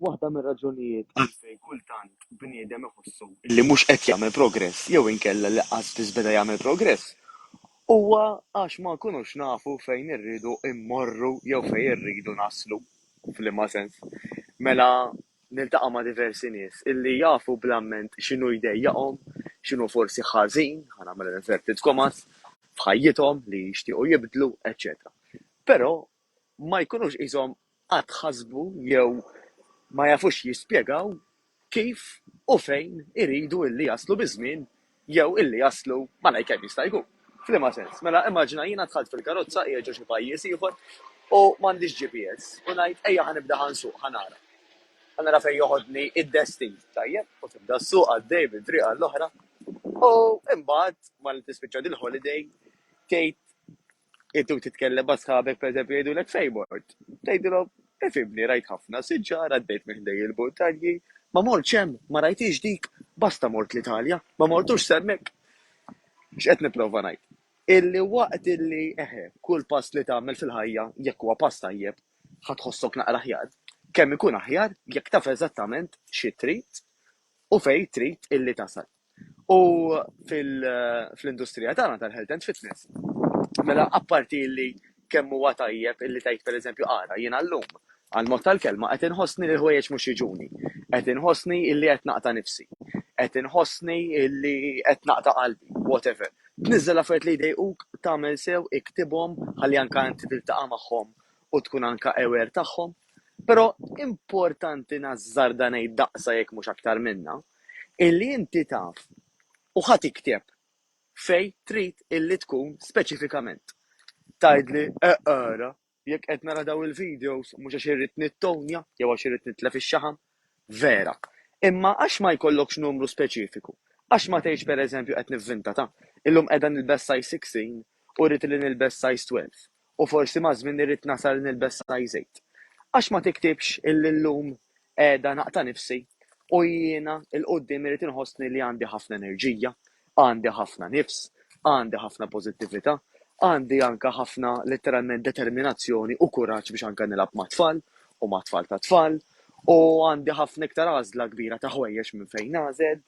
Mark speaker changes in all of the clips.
Speaker 1: Waħda mir-raġunijiet għalfejn kultant bniedem iħossu li mhux qed jagħmel progress jew inkella li qas biss beda jagħmel progress huwa għax ma nkunux nafu fejn irridu mmorru jew fejn irridu naslu. F'liema sens? Mela niltaqa' ma' diversi nies illi jafu bl-amment x'inhu jdejjaqhom, x'inhu forsi ħażin, ħa nagħmel inverted commas, f'ħajjithom li jixtiequ jibdlu, eċċetera. Però ma jkunux qishom qatt ħasbu jew ma jafux jispjegaw kif u fejn iridu illi jaslu biż-żmien jew illi jaslu malajr kemm jista' jkun. F'liema sens? Mela immaġina jiena dħalt fil-karozza qiegħed ġo xi pajjiż ieħor u m'għandix GPS u ngħid ejja ħa nibda ħa nsuq ħa nara. Ħa nara fejn joħodni d-destin. Tajjeb, u tibda ssuq għaddej minn triq għall-oħra u imbagħad malli tispiċċa dil-holiday tgħid Inti u titkellem ma' sħabek pereżempju jgħidulek fejn mort? Tgħidilhom, ifhimni rajt ħafna siġar, għaddejt minn ħdejn il-muntanji, ma mortx hemm, ma rajthiex dik, basta mort l-Italja, ma mortux s'hemmhekk. X'qed nipprova ngħid? Illi waqt illi, eħe, kull pass li tagħmel fil-ħajja jekk huwa pass tajjeb, ħa tħossok naqra aħjar. Kemm ikun aħjar jekk taf eżattament xi trid u fejn trid illi tasal. U fl-industrija tagħna tal-health and fitness, mela apparti li kemm huwa tajjeb illi tgħid pereżempju ara jiena llum għall-mod tal-kelma qed inħossni li l-ħwejjeġ mhux jiġuni, qed inħossni illi qed naqta' nifsi, qed inħossni illi qed naqta' qalbi, whatever. Tniżżel affarijiet li jdejquk, tagħmel sew, iktibhom ħalli anke inti tiltaqa' magħhom u tkun anke aware tagħhom. Però importanti nażżarda ngħid daqsa jekk mhux aktar minnha, illi inti taf u ħa tikteb fejn trid illi tkun speċifikament. Tgħidli eqra jekk qed nara dawn il-videos mhux għax irrid nittownja jew għax irrid nitlef ix-xaħam, vera, imma għax ma jkollokx numru speċifiku, għax ma tgħidx pereżempju qed nivvintata, illum qiegħda nilbes size 16 u rrid illi nilbes size 12. U forsi maż-żmien irrid nasal nilbes saqaj żejt. Għax ma tiktibx illi llum qiegħda naqta' nifsi u jiena 'l quddiem irrid inħossni li għandi ħafna enerġija, għandi ħafna nifs, għandi ħafna pożittività, għandi anke ħafna litteralment determinazzjoni u kuraġġ biex anke nilgħab mat-tfal u ma' tfal tat-tfal u għandi ħafna iktar għażla kbira ta' ħwejjeġ minn fejn nagħżel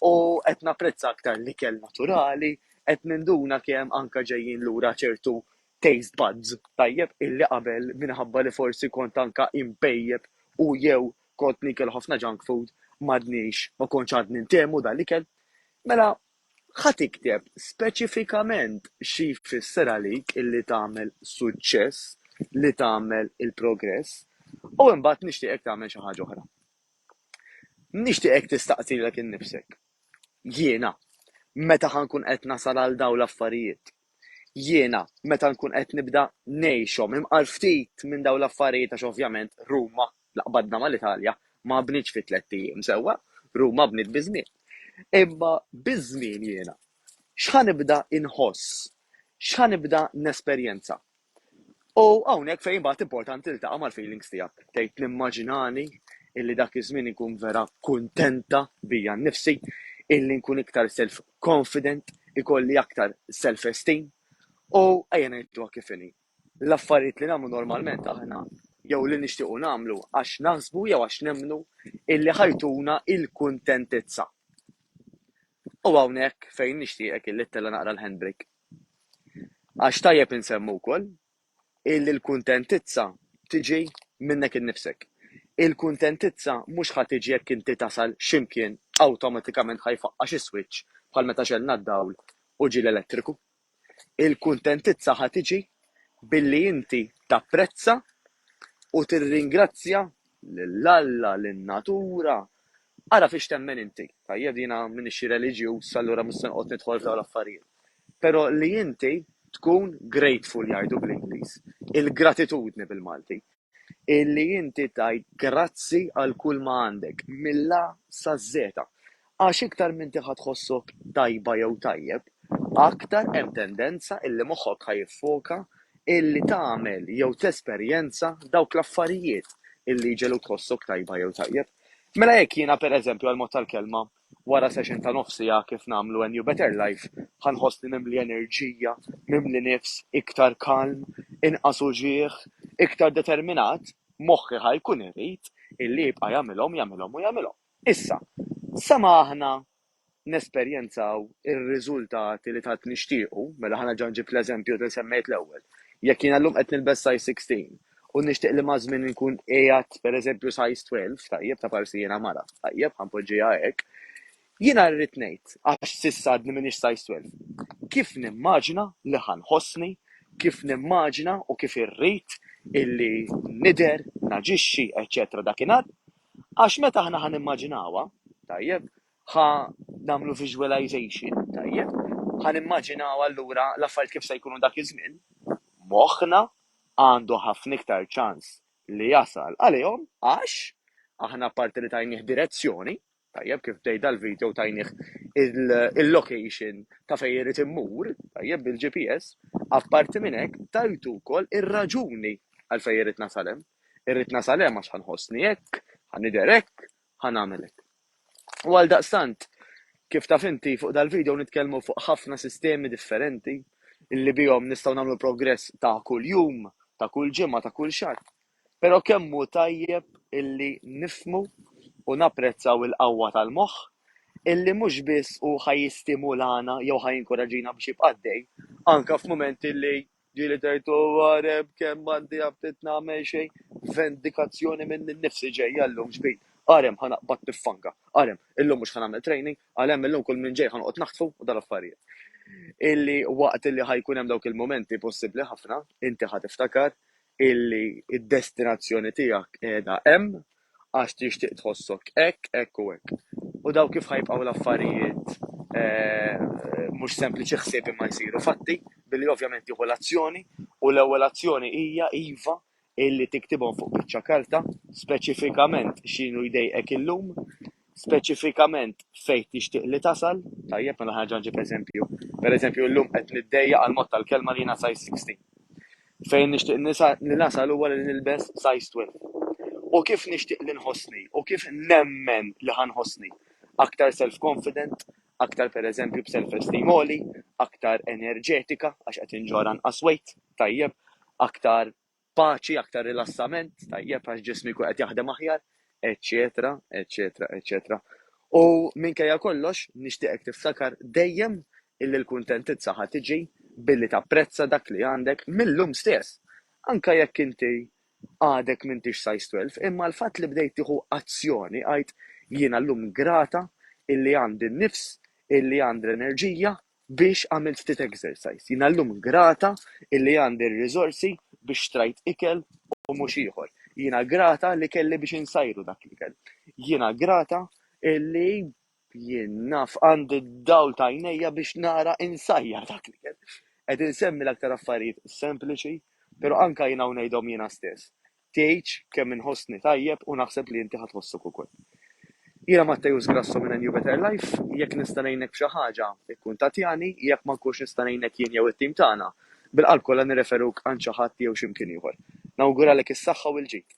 Speaker 1: u qed napprezza aktar l-ikel naturali, Qed ninduna kemm anke ġejjin lura ċertu taste buds, tajjeb, illi qabel minħabba li forsi kont anke impejjep u jew kont niekel ħafna junk food m'għadniex, ma kontx għadni ntehmu dan l-ikel. Mela, ħa tikteb speċifikament xi jfisser għalik illi tagħmel suċċess, li tagħmel il-progress, u imbagħad nixtieqek tagħmel xi ħaġa oħra. Nixtieqek tistaqsilek innifsek, Jiena, meta ħa nkun qed nasal għal dawn l-affarijiet. Jiena, meta nkun qed nibda ngħixhom. Imqar ftit minn dawn l-affarijiet għax ovvjament Ruma, la qbadna mal-Italja, ma bnietx fi tlett ijiem, sewwa? Ruma bniet biż-żmien. Imma biż-żmien jiena, x'ħa nibda inħoss? X'ħa nibda nesperjenza? U hawnhekk fejn imbagħad importanti li taqa' mal-feelings tiegħek. Tgħid nimmaġinani illi dak iż-żmien inkun vera kuntenta bija nnifsi, illi nkun iktar self confident, ikolli aktar self esteem. U ejja ngħiduha kif inhi. L-affarijiet li nagħmlu normalment aħna jew li nixtiequ nagħmlu għax naħsbu jew għax nemmnu illi ħajtuna il-kuntentizza. U hawnhekk fejn nixtieqek illi tella' naqra l-handbrake. Għax tajjeb insemmu wkoll illi l-kuntentizza tiġi minnek innifsek. Il-kuntentizza mhux ħa tiġi jekk inti tasal x'imkien awtomatikament ħa jfaqqa' xi swiċċ bħal meta xegħlna d-dawl u ġie l-elettriku. Il-kuntentizza ħa tiġi billi inti tapprezza u tirringrazzja Lil Alla, lin-natura? Ara fiex temmen inti. Tajjeb, jiena m'iniex xi reliġjuż, allura mhux se noqgħod nidħol f'dawn l-affarijiet. Però li inti tkun grateful jgħidu bl-Ingliż, il-gratitudni bil-Malti. Illi inti tgħid grazzi għal kulma għandek, mill-A saż-Z. Għax iktar m'inti ħa tħossok tajba jew tajjeb, aktar hemm tendenza illi moħħok ħa jiffoka illi tagħmel jew tesperjenza dawk l-affarijiet illi jġegħluk tħossok tajba jew tajjeb. Mela jekk jiena, pereżempju, għall-mod tal-kelma, wara session ta' nofs siegħa kif nagħmlu A New Better Life, ħa nħossni mimli enerġija, mimli nifs, iktar kalm, inqas uġigħ, iktar determinat, moħħi ħa jkun irid illi jibqa' jagħmilhom, jagħmilhom u jagħmilhom. Issa, sa ma aħna nesperjenzaw ir-riżultati li tant nixtiequ, mela ħa nerġa' nġib l-eżempju li semmejt l-ewwel. Jekk jiena llum qed nilbes size 16 u nixtieq li maż-żmien inkun qiegħed pereżempju size 12, tajjeb, ta' parsi jiena mara, tajjeb, ħa npoġġiha hekk, jiena rrid ngħid, għax s'issa għadni m'iniex size 12, kif nimmaġina li ħa nħossni, kif nimmaġina u kif irrid illi nidher, naġixxi, eċċetera dakinhar, Għax meta aħna ħa nimmaġinawha, tajjeb, ħa nagħmlu visualization, tajjeb, ħa nimmaġinaw allura l-affarijiet kif se jkunu dak iż-żmien, moħħna għandu ħafna iktar ċans li jasal għalihom għax aħna apparti li tajnieh direzzjoni, tajjeb kif bdejt dal-video tajnieh il-location ta' fejn irid immur, tajjeb bil-GPS, apparti minn hekk tajtu wkoll ir-raġuni għal fejn irid nasal hemm. Irrid nasal hemm għax ħa nħossni hekk, ħa nidher hekk, ħa nagħmel hekk. U għaldaqstant, kif taf inti, fuq dal-video nitkellmu fuq ħafna sistemi differenti illi bihom nistgħu nagħmlu progress ta' kuljum, ta' kull ġimgħa, ta' kull xahar. Però kemm hu tajjeb illi nifmu u napprezzaw il-qawwa tal-moħħ illi mhux biss hu ħa jistimulana jew ħa jinkoraġina biex jibqa' għaddej, anke f'mumenti li Ġieli tgħid u għareb kemm għandi aptit nagħmel xejn vendikazzjoni minni nnifsi ġejja llum ġbid għarem ħa naqbad pifanga għarem illum mhux ħa nagħmel training għalhemm illum kull min ġej ħa noqgħod naħtfu u dal-affarijiet illi waqt illi ħa jkun hemm dawk il-mumenti possibbli ħafna inti ħa tiftakar illi d-destinazzjoni tiegħek qiegħda hemm għax tixtieq tħossok hekk, hekk u hekk. U dawn kif ħa jibqgħu l-affarijiet mhux sempliċi ħsieb imma jsiru fatti, billi ovvjament tieħu l-azzjoni u l-ewwel azzjoni hija iva illi tiktibhom fuq biċċa karta speċifikament x'inhu jdejqek illum, speċifikament fejn tixtieq li tasal. Tajjeb, mela ħa nerġa' nġib eżempju. Pereżempju, illum qed niddejjaq għall-mod tal-kelma li jiena size 16. Fejn nixtieq li nasal huwa li nilbes size 12. U kif nixtieq li nħossni u kif nemmen li ħa nħossni? Aktar self-confident, aktar pereżempju b'self-esteem għoli, aktar enerġetika għax qed inġorr anqas weight, tajjeb, aktar paċi, aktar rilassament, tajjeb għax ġismi jkun qed jaħdem aħjar, eċċetera, eċċetera, eċċetera. U minkejja kollox, nixtieqek tiftakar dejjem illi l-kuntentizza ħa tiġi billi tapprezza dak li għandek mill-lum stess. Anka jekk inti għadek mintix sajs 12, imma l-fatt li bdejt tieħu azzjoni għajt jiena llum grata illi għandi n-nifs, illi għandi l-enerġija, biex għamilt ftit exercise. Jiena llum grata illi għandi r-riżorsi biex xtrajt ikel u mhux ieħor. Jiena grata li kelli biex insajru dak l-ikel. Jiena grata illi jien naf għandi d-dawl ta' għajnejja biex nara insajjar dak l-ikel. Qed insemmi l-aktar affarijiet sempliċi, però anke jien hawn ngħidhom jiena stess. Tgħidx kemm inħossni tajjeb u naħseb li inti ħa tħossok ukoll. Jiena Matteus Grasso minn A New Better Life, jekk nista' ngħinek b'xi ħaġa, ikkuntattjani, jekk ma nkunx nista' ngħinek jien jew it-tim tagħna, bil-qalb kollha nirreferuk għand xi ħadd jew x'imkien ieħor. Nawguralek is-saħħa u l-ġid.